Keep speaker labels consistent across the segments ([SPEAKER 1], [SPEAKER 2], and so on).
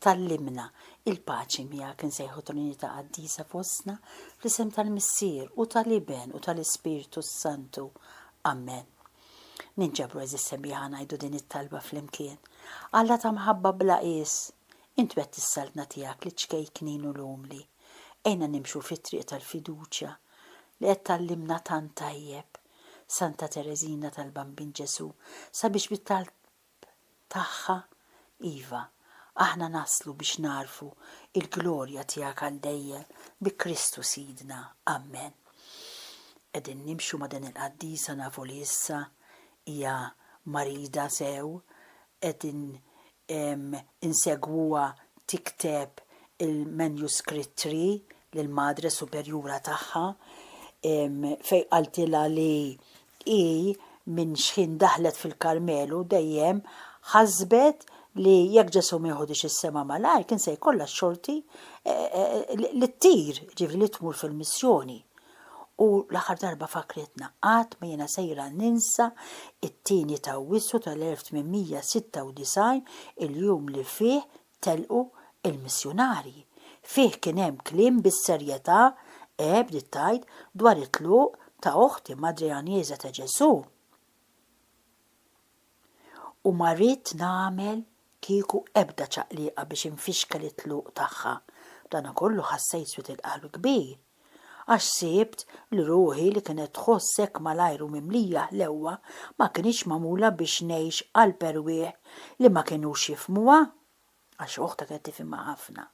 [SPEAKER 1] Tgħallimna, Il-paċi miegħek insejħu Trinità qaddisa fostna, fl-isem tal-Missier, u tal-Iben, u tal-Ispirtu s-Santu. Amen. Ninġabru għeżież sebbiħa ngħidu din it-talba flimkien. Alla ta' mħabba bla qies, Int wegħdt is-Saltna tiegħek liċ-ċkejknin u l-umli. Għinna nimxu fit-triq tal-fiduċja li qed tgħallimna tant tajjeb, Santa Tereżina tal-Bambin Ġesù, sabiex bit-talb tagħha, iva, aħna naslu biex nagħrfu il-glorja tiegħek għal dejjem, bi Kristu Sidna. Amen. Qegħdin nimxu ma' din il-qaddisa nafu li issa hija marida sew, qegħdin insegwuha tikteb il-manuscript tree lill-Madre Superjura tagħha fejn qaltilha li Hi, minn xħin daħlet fil-Karmelu, dejjem ħasbet li jekk Ġesù ma jiħudhiex is-sema malajr, kien se jkollha x-xorti li ttir, jiġifieri li tmur fil-missjoni. U l-aħħar darba fakkritna, Qatt ma jiena sejra ninsa t-tieni t'Awwissu tal-1896, il-jum li fih Telqu l-missjunarji. Fih kien hemm kliem bis-serjetà, E, bdiet tgħid, dwar it-tluq ta' oħti Madre Għanjeża ta' Ġesù. U ma ridt nagħmel kieku ebda ċaqliqa biex infixkel it-tluq tagħha. B'danakollu ħassejt swied il-qalb kbir. għax sibt li ruħi li kienet tħoss hekk malajr u mimlija ħlewwa ma kinitx magħmula biex ngħix qalb erwieħ li ma kinux jifhmuha, għax oħta kienet tifhimha ħafna.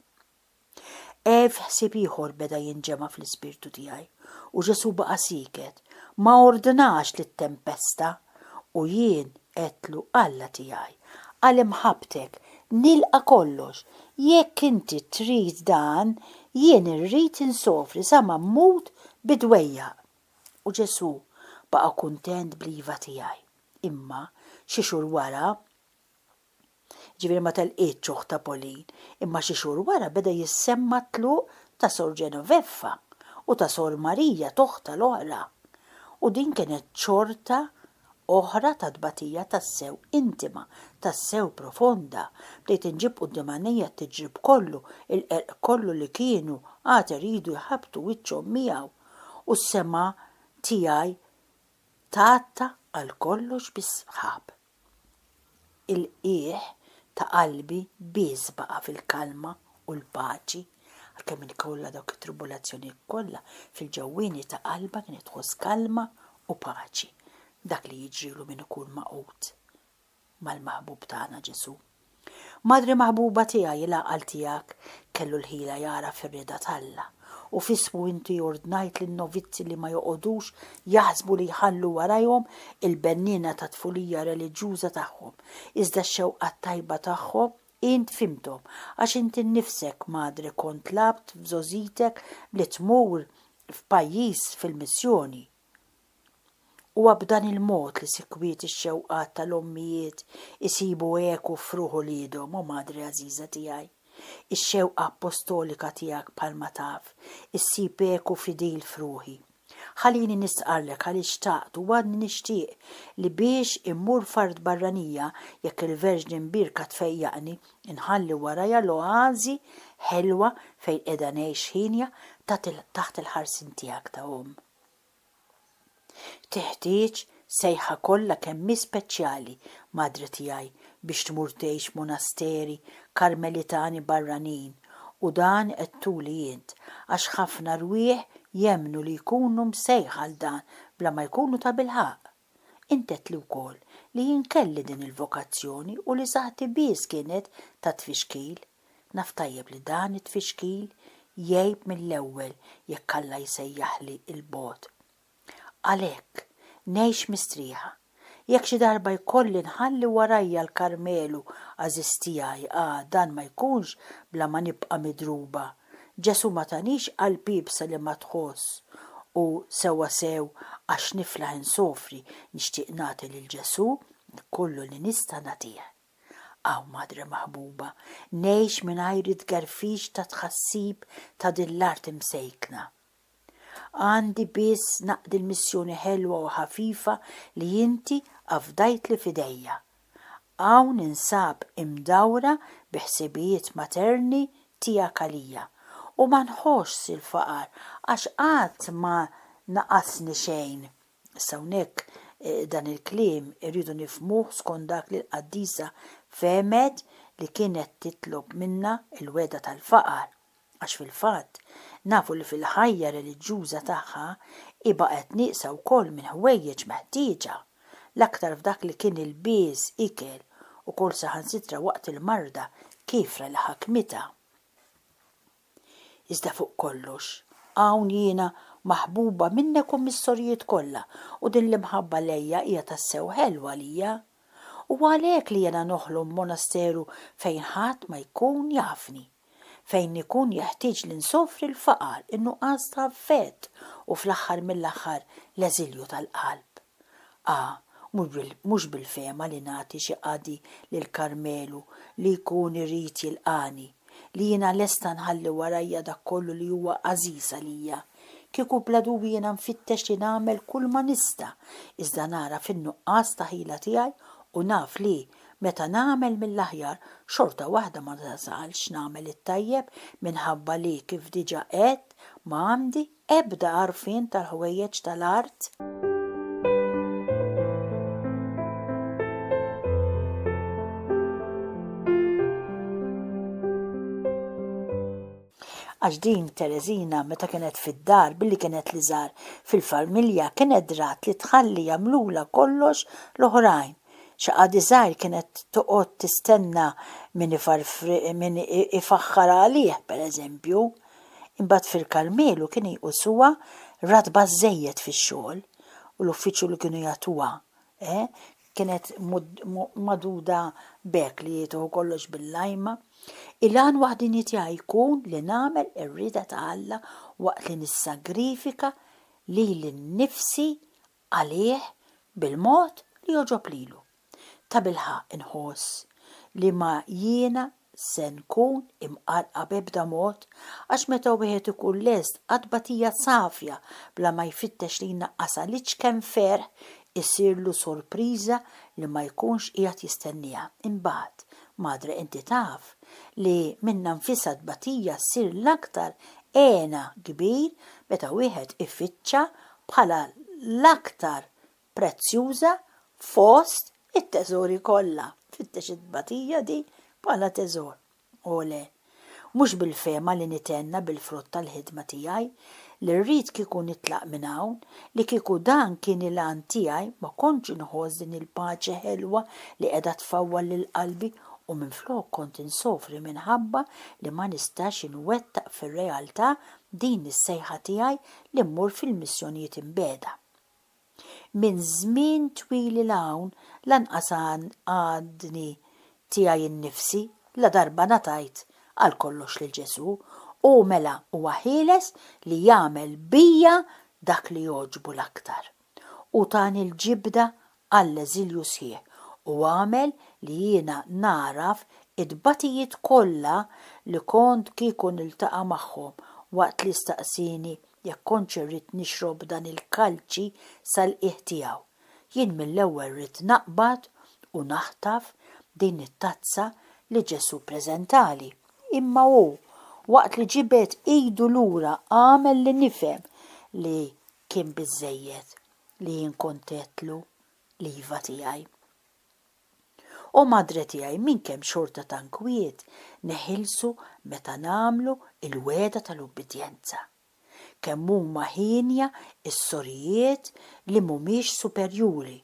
[SPEAKER 1] Ev ħsieb ieħor beda jinġema' fl-ispirtu tiegħi, u Ġesù baqa' sieket, ma ordnax lit-tempesta, u jien għedtlu, Alla tiegħi, għal imħabbtek nilqa' kollox, jekk inti trid dan, jien irrid insofri sa ma mmut bid-dwejjaq. U Ġesù baqa' kuntent bl-iva tiegħi. Imma, xi xhur wara, Jiġifieri ma telqietx uħtha Pauline, imma xi xhur wara beda jissemma t-tluq ta' Sor Genoveffa u ta' Sor Marija t'oħtha l-oħra. U din kienet xorta oħra ta' tbatija tassew intima, tassew profonda. Bdejt inġib quddiem għajnejja t-tiġrib kollu, il-qerq kollu li kienu għad iridu jħabbtu wiċċhom miegħu, u s-semgħa tiegħi tgħatta għal kollox bis-sħab. Il-qiegħ ta' qalbi biss baqa' fil-kalma u l-paċi, għalkemm inkollha dawk it-tribulazzjonijiet kollha, fil-ġewwieni ta' qalbha kienet tħoss kalma u paċi. Dak li jiġrilu min ikun magħqud mal-Maħbub tagħna Ġesù. Madre maħbuba tiegħi l-għaqal tiegħek kellu l-ħila jara fir-rieda t'Alla, u f'ismu inti ordnajt lin-novizzi li ma joqogħdux jaħsbu li jħallu warajhom il-benniena tat-tfulija reliġjuża tagħhom, iżda x-xewqat tajba tagħhom int fhimthom, għax int innifsek, Madre kont tlabt f'żgħożitek li tmur f'pajjiż fil-missjoni. Huwa b'dan il-mod li sikwit ix-xewqat tal-ommijiet isibu eku f'ruħ uliedhom, O Madre għażiża tiegħi. Ix-xewqa appostolika tiegħek bħalma taf, issib eku fidil f'ruħi. Ħalini nistqarrlek għaliex xtaqt u għadni nixtieq li biex immur f'art barranija, jekk il-Verġni Mbierka tfejjaqni, inħalli warajja l-oażi ħelwa fejn qiegħda ngħix ħinja taħt il-ħarsien tiegħek ta' omm. Teħtieġ sejħa kollha kemm hi speċjali, madre tiegħi, biex tmur tgħix f'monasteri Karmelitani barranin, u dan għedtuli int, għax ħafna rwieħ jemmnu li jkunu msejħa għal dan bla ma jkunu tabilħaqq. Intedtli wkoll li jien kelli din il-vokazzjoni u li saħħti biss kienet ta' tfixkil. Naf tajjeb li dan it-tfixkil jgħib mill-ewwel jekk Alla jsejjaħli 'il bogħod. Għalhekk, ngħix mistrieħa. Jekk xi darba jkolli nħalli warajja l-Karmelu għażiż tiegħi, ah, dan ma jkunx bla ma nibqa' midruba Ġesù ma tanix qalb iebsa li ma tħoss u sewwa sew għax niflaħ insofri nixtieq nagħti lil Ġesù kollu li nista' nagħtih. Aw Madre maħbuba, ngħix mingħajr it-tgerfix tat-tħassib ta' din l-art imsejkna. Għandi biss naqdi l-missjoni ħelwa u ħafifa li inti afdajtli f'idejja. Hawn ninsab imdawra bi ħsibijiet materni tiegħek għalija, u ma nħossx il-faqar għax qatt ma naqasni xejn. Issa hawnhekk dan il-kliem irridu nifhmuh skont dak li l-qaddisa fehmet li kienet titlob minnha, il-wegħda tal-faqar. Għax fil-fatt, nafu li fil-ħajja reliġjuża tagħha hi baqgħet nieqsa wkoll minn ħwejjeġ meħtieġa, l-aktar f'dak li kien ilbies, ikel, ukoll saħansitra waqt il-marda kiefra li ħakmitha. Iżda fuq kollox, hawn jiena maħbuba minnek u mis-sorijiet kollha u din l-imħabba lejja hija tassew ħelwa għalija. Huwa għalhekk li jiena noħlom b'monasteru fejn ħadd ma jkun jafni. fejn ikun jeħtieġ li nsofri l-faqar, in-nuqqas ta' affett u fl-aħħar mill-aħħar l-eżilju tal-qalb. A Mhux bil-fehma li nagħti xi qadi lil Karmelu li jkun irid jilqagħni, li jiena lesta nħalli warajja dak kollu li huwa għażiż għalija, kieku bla dubju jiena nfittex li nagħmel kulma nista' iżda nara fin-nuqqas ta' ħila tiegħi u naf li, Meta nagħmel mill-aħjar, xorta waħda ma nasalx nagħmel it-tajjeb minħabba li, kif diġà għedt, ma għandi ebda għarfien tal-ħwejjeġ tal-art. Għax din Tereżina meta kienet fid-dar billi kienet l-iżgħar fil-familja kienet drat li tħalli jagħmlulha kollox l-oħrajn. Xi qadi żgħir kienet toqgħod tistenna min min ifaħħar għalih, per eżempju. Imbagħad fil-Karmelu kien jqusuha ratba żżejjed fix-xogħol u l-uffiċċju li kienu jagħtuha, eh, kienet magħduda b'hekk li jagħtuha kollox bil-lajma. Il-għan waħdieni tiegħi jkun li nagħmel ir-rieda ta' Alla waqt li nissagrifika lili nnifsi għalih bil-mod li jogħġob lilu. Tabilħaqq inħoss li ma jiena se nkun imqarqa b'ebda mod għax meta wieħed ikun lest għat-tbatija safja bla ma jfittex li jnaqqasha l-iċken ferħ isirlu sorpriża li ma jkunx qiegħed jistennieha. Imbagħad, Madre inti taf li minnha nfisha t-tbatija ssir l-aktar hena kbir meta wieħed ifittxa bħala l-aktar prezzjuża fost it-teżori kollha. Fittex it-tbatija di bħala teżor. O le! Mhux bil-fehma li nithenna bil-frott tal-ħidma tiegħi, li rrid kieku nitlaq minn hawn, li kieku dan kien il-għan tiegħi ma kontx inħoss din il-paċi ħelwa li qiegħda tfawwal lil qalbi u minflok kont insofri minħabba li ma nistax inwettaq fir-realtà din is-sejħa tiegħi li mmur fil-missjonijiet imbegħda. Minn żmien twil 'il hawn lanqas għadni tiegħi nnifsi ladarba ngħatajt għal kollox lil Ġesù, u mela huwa ħieles li jagħmel bija dak li jogħġbu l-aktar. Hu tani l-ġibda għall-eżilju sħiħ u għamel li jiena nagħraf it-tbatijiet kollha li kont kieku niltaqa' magħhom waqt li staqsieni jekk kontx irrid nixrob dan il-kalċi sal-qiegħ tiegħu. Jien mill-ewwel ridt naqbad u naħtaf din it-tazza li Ġesù ppreżentali. Imma hu, waqt li ġibed idu lura għamel li nifhem li Kien biżżejjed li jien kont għedtlu l-iva tiegħi. O Madre tiegħi, minn kemm xorta ta' nkwiet neħilsu meta nagħmlu l-wegħda tal-ubbidjenza! Kemm huma hienja s-sorijiet li m'humiex superjuri,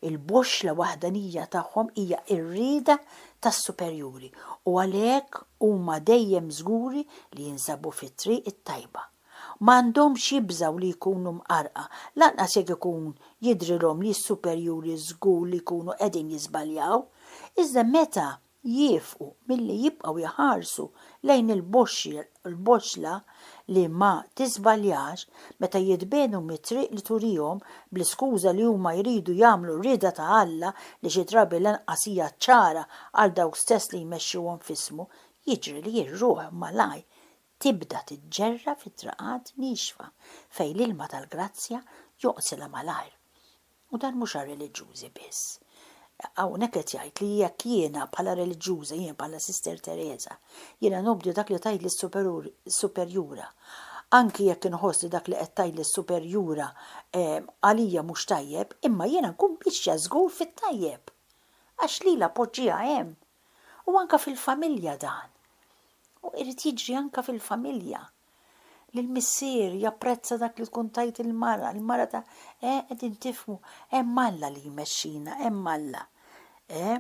[SPEAKER 1] il-boxxla waħdanija tagħhom hija r-rieda tas-superjuri u għalhekk huma dejjem żguri li jinsabu fit-triq it-tajba. Ma għandhomx jibżgħu li jkunu mqarrqa, lanqas jekk ikun jidhrilhom li s-superjuri żgur li jkunu qegħdin jiżbaljaw. Iżda meta jiefqu milli jibqgħu jħarsu lejn il-boxxla li ma tiżbaljax, meta jitbiegħdu mit-triq li turihom bl-iskuża li huma jridu jagħmlu r-rieda ta' Alla li xi drabi lanqas hija ċara għal dawk stess li jmexxuhom f'ismu, jiġri li r-ruħ malajr Tibda tiġġerra fi traqat niexfa fejn l-ilma tal-grazzja joqsilha malajr. U dan mhux għar-reliġjużi biss. Hawnhekk qed jgħid li jekk jiena bħala reliġjuża, jien bħala Sister Teresa, jiena nobdi dak li tgħidli s-superjura, anki jekk inħoss li dak li qed tgħidli s-superjura għalija mhux tajjeb, imma jiena nkun miexja żgur fit-tajjeb. Għax lilha poġġiha hemm. U anka fil-familja dan. U irid jiġri anka fil-familja. Li l-missier japprezza dak li tkun tajt il-mara, il-mara ta' eh qegħdin tifmu, hemm Alla li jmexxina, hemm Alla. Eh?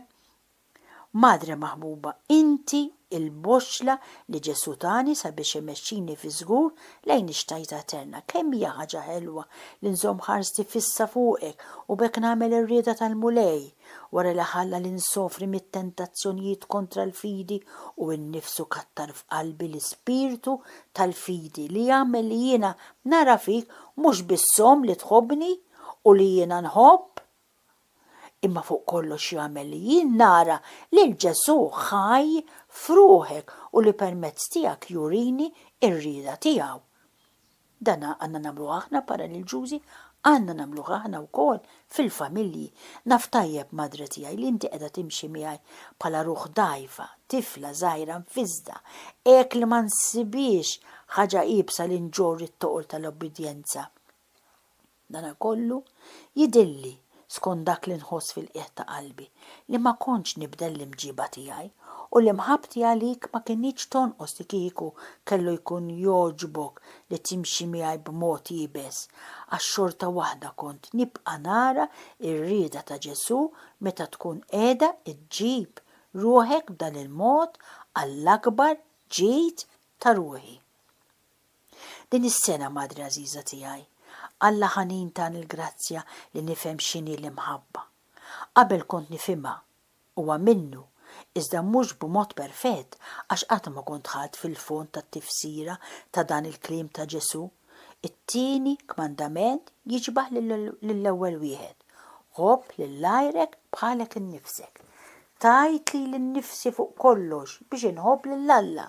[SPEAKER 1] Madre maħbuba, inti il-boxxla li Ġesù tani sabiex imexxini fi żgur lejn ix-xtajta eterna. Kemm hija ħaġa ħelwa li nżomm ħarsti fissa fuqek u b'hekk nagħmel ir-rieda tal-Mulej! Wara li ħalla li nsofri mit-tentazzjonijiet kontra l-fidi u nnifsu kattar f'qalbi l-ispirtu tal-fidi li jagħmel li jiena nara fik mhux biss omm li tħobbni u li jiena nħobb, imma fuq kollox jagħmel li jien nara lil Ġesù ħaj f'ruħek u li permezz tiegħek jurini r-rieda tiegħu. Dan għandna nagħmluh aħna paraliġjużi, għandna nagħmluh aħna wkoll fil-familji. Naf tajjeb, Madre tiegħi, li inti qiegħda timxi miegħi bħala ruħ dgħajfa, tifla żgħira mfiżżda, hekk li ma nsibhiex ħaġa iebsa li nġorr it-toqol tal-obbidjenza. Dana kollu, jidhirli, skont dak li nħoss fil-qiegħ ta' qalbi, li ma kontx nibdel l-imġiba tiegħi, u li mħabbti għalik ma kinitx tonqos li kieku kellu jkun jogħġbok li timxi miegħi b'mod iebes, għax xorta waħda kont nibqa' nara r-rieda ta' Ġesù meta tkun qiegħda ġġib ruħek b'dan il-mod għall-akbar ġid ta' ruħi. Din is-sena, Madre għażiża tiegħi, Alla ħanin tani l-grazzja li nifhem x'inhi l-imħabba. Qabel kont nifhimha, huwa minnu, iżda mhux b'mod perfett għax qatt ma kont dħalt fil-fond tat-tifsira ta' dan il-kliem ta' Ġesù, It-tieni kmandament jiġbah lill-ewwel wieħed, 'Ħobb lil għajrek bħalek innifsek. Tajt lili nnifsi fuq kollox biex inħobb lil Alla.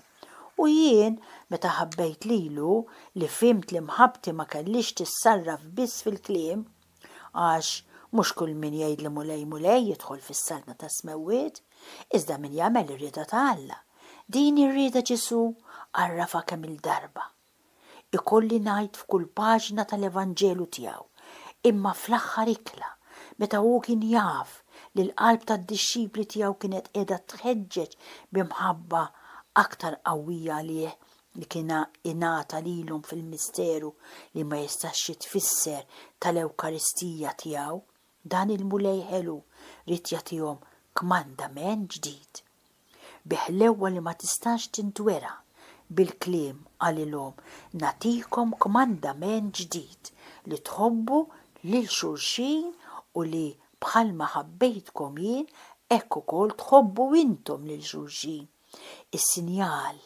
[SPEAKER 1] U jien, meta ħabbejt lilu, li fhimt li mħabbti ma kellhiex tissarraf biss fil-kliem, għax mhux kull min jgħidli Mulej, Mulej jidħol fis-saltna tas-smewwiet, iżda min jagħmel ir-rieda ta' Alla. Din hi r-rieda Ġesù għarrafha kemm-il darba. ikolli ngħid f'kull paġna tal-Evanġelu tiegħu, imma fl-aħħar ikla, meta hu kien jaf li l-qalb tad-dixxipli tiegħu kienet qiegħda tħeġġeġ bi mħabba aktar qawwija għalih li kien ingħata lilhom fil-misteru li ma jistax jitfisser tal-Ewkaristija tiegħu, dan il-Mulej ħelu ried jagħtihom kmandament ġdid. bi ħlewwa li ma tistax tintwera bil-kliem qalilhom, Nagħtikom kmandament ġdid, li tħobbu lil xulxin u li, bħalma ħabbejtkom jien, hekk ukoll tħobbu intom lil xulxin. Is-sinjal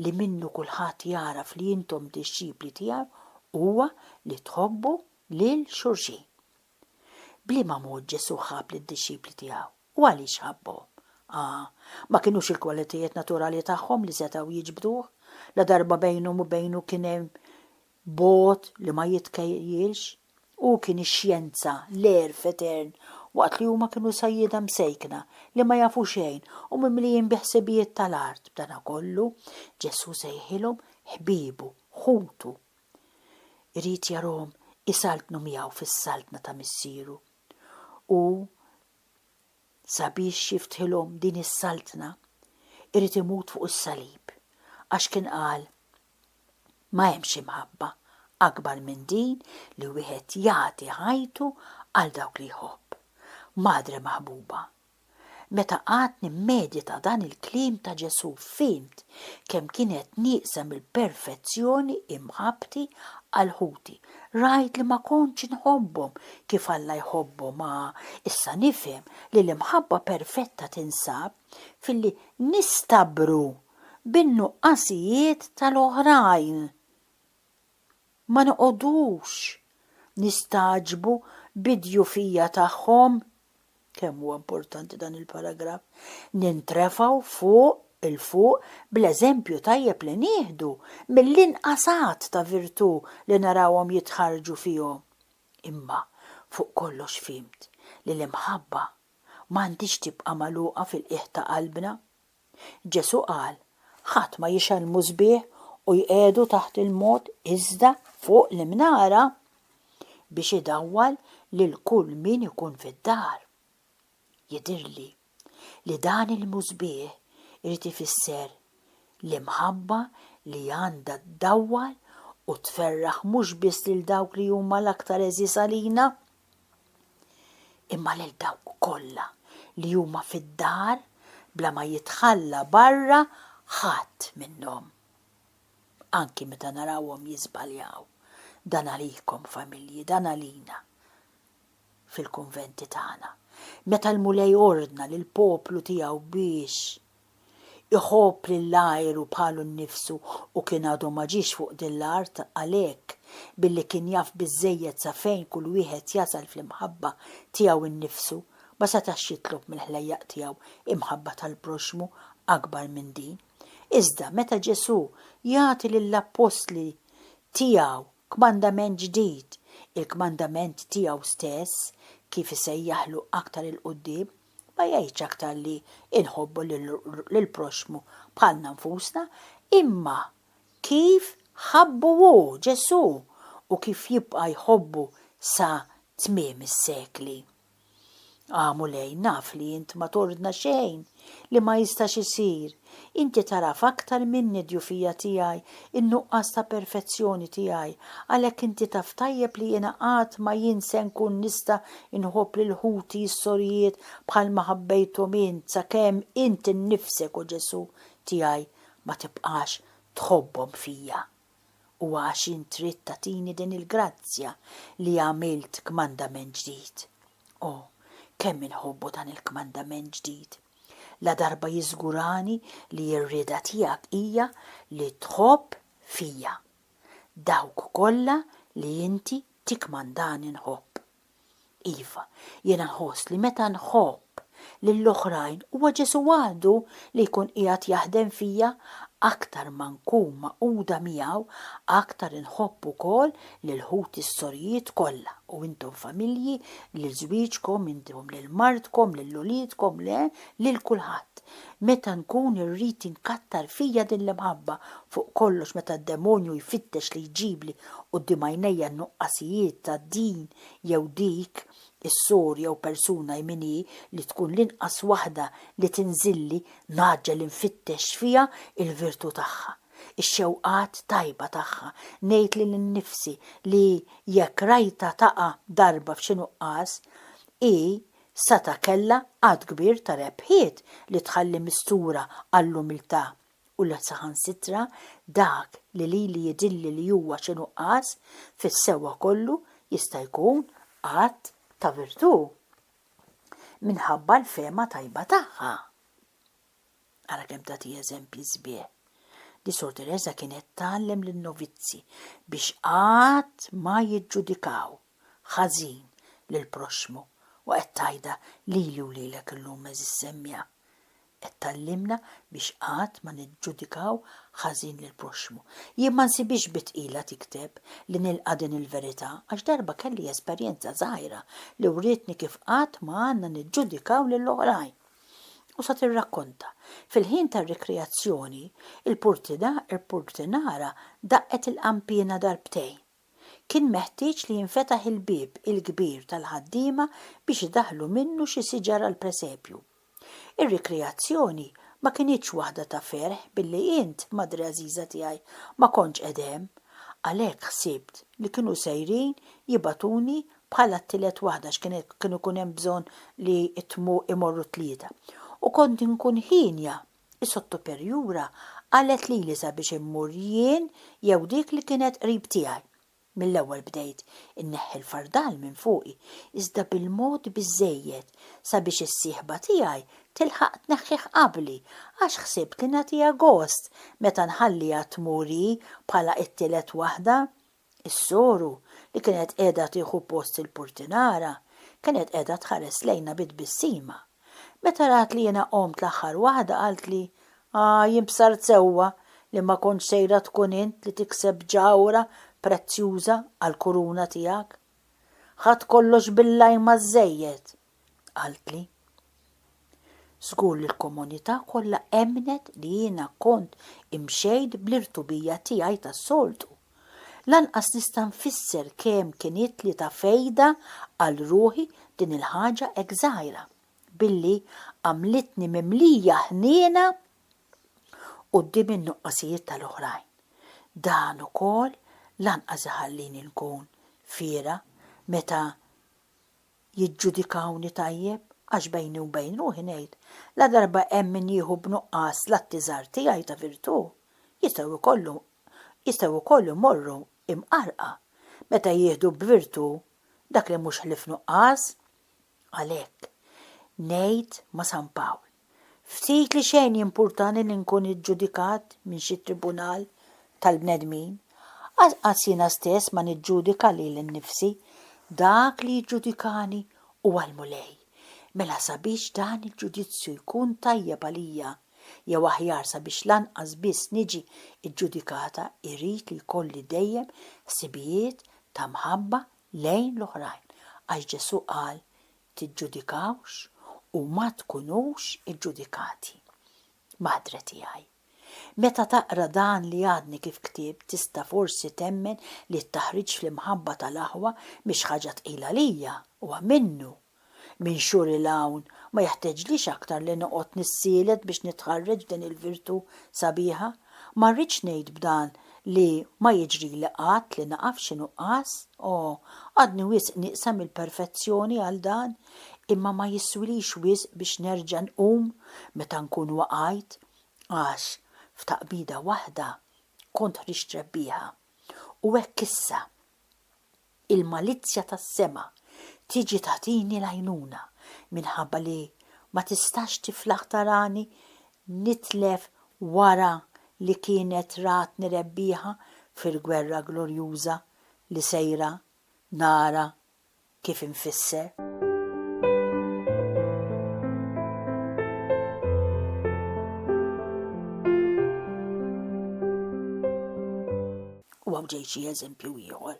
[SPEAKER 1] li minnu kulħadd jagħraf li intom dixxipli tiegħi huwa li tħobbu lil xulxin. B'liema mod Ġesù ħabb lid-dixxipli tiegħu? U għaliex ħabbhom? Ah, ma kinux il-kwalitajiet naturali tagħhom li setgħu jiġbduh, ladarba bejnhom u bejnu kien hemm bogħod li ma jitkejjilx. Hu kien ix-xjenza, l-għerf etern, waqt li huma kienu sajjieda msejkna li ma jafu xejn u mimlijin bi ħsibijiet tal-art. B'danakollu, Ġesù sejħilhom ħbiebu, ħutu. Irid jarahom isaltnu miegħu fis-saltna ta' Missieru. Hu sabiex jiftħilhom din is-saltna, irid imut fuq is-salib, għax kien qal, Ma hemmx imħabba akbar minn din li wieħed jagħti ħajtu għal dawk li jħobb. Madre maħbuba, meta qgħadt nimmedita dan il-kliem ta' Ġesù fhimt kemm kien qed nieqsem il-perfezzjoni imħabbti għal ħuti Rajt li ma kontx inħobbhom kif Alla jħobbhom ma issa nifhem li l-imħabba perfetta tinsab filli nistabbru bin-nuqqasijiet tal-oħrajn. Ma noqogħdux nistagħġbu bid-djufija tagħhom. kemm huwa importanti dan il-paragraf, nintrefgħu fuq 'il fuq bl-eżempju tajjeb li nieħdu mill-inqas għadd ta' virtù li narawhom jitħarrġu fihom. Imma fuq kollox fhimt li l-imħabba m'għandhiex tibqa' magħluqa fil-qiegħ ta' qalbna. Ġesù qal, Ħadd ma jixgħel l-musbieħ u jqiegħdu taħt il-mod iżda fuq l-imnara, biex idawwal lil kull min ikun fid-dar. Jidhirli li dan il-musbieħ irid ifisser l-imħabba li għandha ddawwal u tferraħ mhux biss lil dawk li huma l-aktar għeżież għalina, imma lil dawk kollha li huma fid-dar bla ma jitħalla barra ħadd minnhom. Anki meta narawhom jiżbaljaw, dan għalikom familji, dan għalina fil-kunventi tagħna. Meta l-Mulej ordna lill-poplu tiegħu biex. Iħobb lill-ajru bħalu nnifsu u kien għadu ma ġiex fuq din l-art għalhekk, billi kien jaf biżżejjed sa fejn kull wieħed jasal fl-imħabba tiegħu nnifsu, ma setax jitlob mill-ħlejjaq tiegħu imħabba tal-proxxmu akbar minn din. Iżda meta Ġesù jagħti lill-appostli tiegħu Kmandament ġdid, il-kmandament tiegħu stess, kif isejjaħlu aktar 'il quddiem, ma jgħidx aktar li nħobbu lill-proxxmu bħalna nfusna, imma kif ħabbu hu, Ġesù, u kif jibqa' jħobbu sa tmiem is-sekli. Ah, Mulej, naf li int ma tordna xejn li ma jistax isir. Inti tagħraf aktar minni d-djufija tiegħi, in-nuqqas ta' perfezzjoni tiegħi, għalhekk inti taf tajjeb li jiena qatt ma jien se nkun nista' inħobb lil ħuti s-sorijiet bħalma ħabbejthom int sakemm int innifsek, o Ġesù tiegħi, ma tibqax tħobbhom fija. u għax int trid tagħtini din il-grazzja li għamilt kmandament ġdid. O, kemm inħobbu dan il-kmandament ġdid! Ladarba jiżgurani li r-rieda tiegħek hija li tħobb fija dawk kollha li inti tikkmandani nħobb. Iva, jiena nħoss li meta nħobb lill-oħrajn huwa Ġesù waħdu li jkun qiegħed jaħdem fija, aktar ma nkun magħquda miegħu, aktar inħobb ukoll lil ħuti s-sorijiet kollha, u intom familji, lil żwieġkom, intom lil martkom, lil uliedkom, le, lil kulħadd. Meta nkun irrid inkattar fija din l-imħabba, fuq kollox meta d-demonju jfittex li jġibli quddiem għajnejja n-nuqqasijiet ta' din jew dik is-sor jew persuna hi min hi li tkun l-inqas waħda li tinżilli, ngħaġġel infittex fiha l-virtù tagħha, ix-xewqat tajba tagħha, ngħid li lil nnifsi li jekk rajtha taqa' darba f'xi nuqqas, hi Sata kellha għadd kbir ta' rebħiet li tħalli mistura għall-umiltà u li saħansitra dak li lili jidhirli li huwa xi nuqqas, fis-sewwa kollu jista' jkun att ta' virtù minħabba l-fehma tajba tagħha. Ara kemm tagħti eżempji sbieħ! Li Sor Tereża kienet tgħallem lin-novizzi biex qatt ma jiġġudikaw ħażin lill-proxxmu u qed tgħidha lili u lilek illum għeżież semmiegħa. Qed tgħallimna biex qatt ma niġġudikaw ħażin lill-proxxmu. Jien ma nsibhiex bi tqila tikteb li nilqa' din il-verità għax darba kelli esperjenza żgħira li wrietni kif qatt ma għandna niġġudikaw lill-oħrajn. u sa tirrakkonta, Fil-ħin tar-rikreazzjoni, il-purtinara daqqet il-qanpiena darbtejn. Kien meħtieġ li jinfetaħ il-bieb il-kbir tal-ħaddiema biex idaħħlu minnu xi siġar għall-presepju. Ir-rikreazzjoni ma kinitx waħda ta' ferħ billi int, madre għażiża tiegħi, ma kontx qegħed hemm. Għalhekk ħsibt li kienu sejrin jibagħtuni bħala t-tielet waħda x'kienet kien ikun hemm bżonn li jtmu imorru t-tlieta. U kont inkun hienja, is-sottoperjura qalet lili sabiex immur jien jew dik li kienet qrib tiegħi. Mill-ewwel bdejt inneħħi l-fardal minn fuqi, iżda bil-mod biżżejjed sabiex is-sieħba tiegħi tilħaq tneħħih qabli għax ħsibt li nagħtiha gost meta nħalliha tmur hi bħala t-tielet waħda. Is-soru, li kienet qiegħda tieħu post il-purtinara, kienet qiegħda tħares lejna bi tbissima. Meta rat li jiena qomt l-aħħar waħda qaltli, Ah, jien bsart sewwa li ma kontx sejra tkun int li tikseb ġawhra prezzjuża għall-kuruna tiegħek. Ħadt kollox bil-lajma żżejjed. qaltli. Żgur li l-komunità kollha emmnet li jiena kont imxejt bl-irtubija tiegħi tas-soltu. Lanqas nista' nfisser kemm kinitli ta' fejda għal ruħi din il-ħaġa hekk żgħira, billi għamlitni mimlija ħniena quddiem in-nuqqasijiet tal-oħrajn. Dan ukoll lanqas iħallini nkun fiergħa meta jiġġudikawni tajjeb, għax bejni u bejn ruħi ngħid, ladarba hemm min jieħu b'nuqqas l-atti żgħar tiegħi ta' virtù, jistgħu jkollu, jistgħu wkoll imorru imqarrqa meta jieħdu b'virtù dak li mhux ħlief nuqqas. Għalhekk, ngħid ma' San Pawl. Ftit li xejn jimpurtani li nkun iġġudikat minn xi tribunal tal-bnedmin. Anqas jiena stess ma niġġudika lili nnifsi. Dak li jiġġudikani huwa l-Mulej. Mela sabiex dan il-ġudizzju jkun tajjeb għalija, jew aħjar sabiex lanqas biss niġi ġġudikata, irrid li jkolli dejjem ħsibijiet ta' mħabba lejn l-oħrajn, għax Ġesù qal, tiġġudikawx u ma tkunux iġġudikati. Madre tiegħi. Meta taqra dan li għadni kif ktibt tista' forsi temmen li t-taħriġ fl-imħabba tal-aħwa mhix ħaġa tqila għalija, huwa minnu. Minn xhur 'il hawn ma jeħteġlix aktar li noqgħod nissielet biex nitħarreġ din il-virtù sabiħa. Ma rridx ngħid b'dan li ma jiġrili qatt li naqa' f'xi nuqqas, o, għadni wisq nieqsa mill-perfezzjoni għal dan, imma ma jiswilix wisq biex nerġa' nqum meta nkun waqajt, għax, f'taqbida waħda, kont ħriġt rebbieħa. U hekk issa. Il-malizzja tas-sema tiġi tagħtini l-għajnuna minħabba li ma tistax tiflaħ tarani nitlef wara li kienet ratni rebbieħa fil-gwerra glorjuża li sejra nara kif infisser. U hawn ġej xi eżempju ieħor.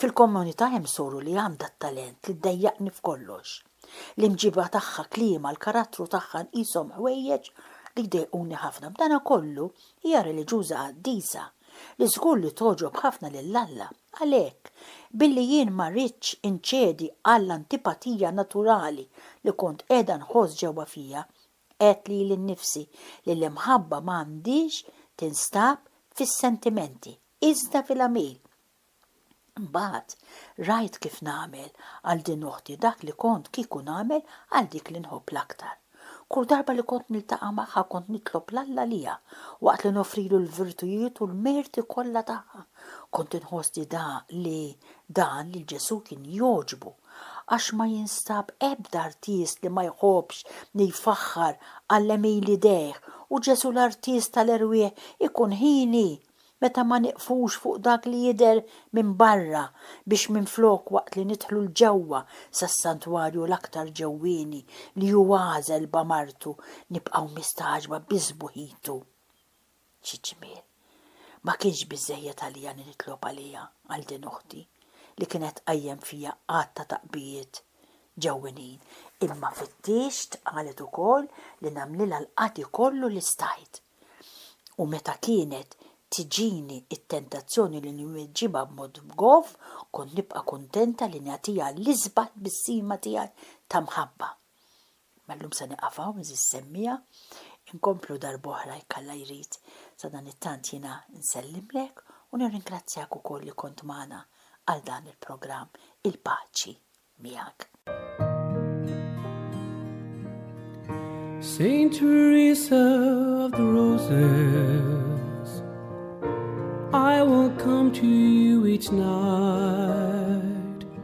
[SPEAKER 1] Fil-kommunità hemm soru li għandha t-talent li ddejjaqni f'kollox. L-imġiba tagħha, kliemha, l-karattru tagħha nqishom ħwejjeġ li jdejquni ħafna. B'dana kollu, hija reliġjuża qaddisa, li żgur li togħġob ħafna lil Alla. Għalhekk, billi jien ma ridtx inċedi għall-antipatija naturali li kont qiegħda nħoss ġewwa fija, Għedt lili nnifsi li l-imħabba ma għandhiex tinstab fis-sentimenti, iżda fil-għamil. Imbagħad rajt kif nagħmel għal din uħti dak li kont kieku nagħmel għal dik li nħobb l-aktar. Kull darba li kont niltaqa' magħha kont nitlob 'l Alla liha, waqt li noffrilu l-virtujiet u l-merti kollha tagħha. Kont inħoss li dan li dan lil Ġesù kien jogħġbu. għax ma jinstab ebda artist li ma jħobbx li jfaħħar għall-għemil idejh u Ġesù l-Artist tal-erwieħ ikun hieni meta ma nieqfux fuq dak li jidher minn barra biex minflok waqt li nidħlu 'l ġewwa sas-santwarju l-aktar ġewwieni li hu għażel b'amartu nibqgħu mistagħġba bi sbuħitu Xi ġmiel! Ma kienx biżżejjed għalija li nitlob għaliha, għal din uħti, li kienet tqajjem fija għadd ta' taqbijiet ġewwinin, imma fittixt, qalet ukoll, li nagħmlilha l-qati kollu li stajt. U meta kienet tiġini t-tentazzjoni li nwiġġibha b'mod bgoff, kont nibqa' kuntenta li nagħtiha l-isbaħ tbissima tiegħi ta' mħabba. Mallum se nieqaf hawn iżis semmiegħa, inkomplu darb'oħra jekk Alla jrid, sadanittant jiena nsellimlek u nirringrazzjak ukoll li kont magħna għal dan il-programm Il-Paċi Miegħek.
[SPEAKER 2] Saint Teresa of the Roses, I will come to you each night.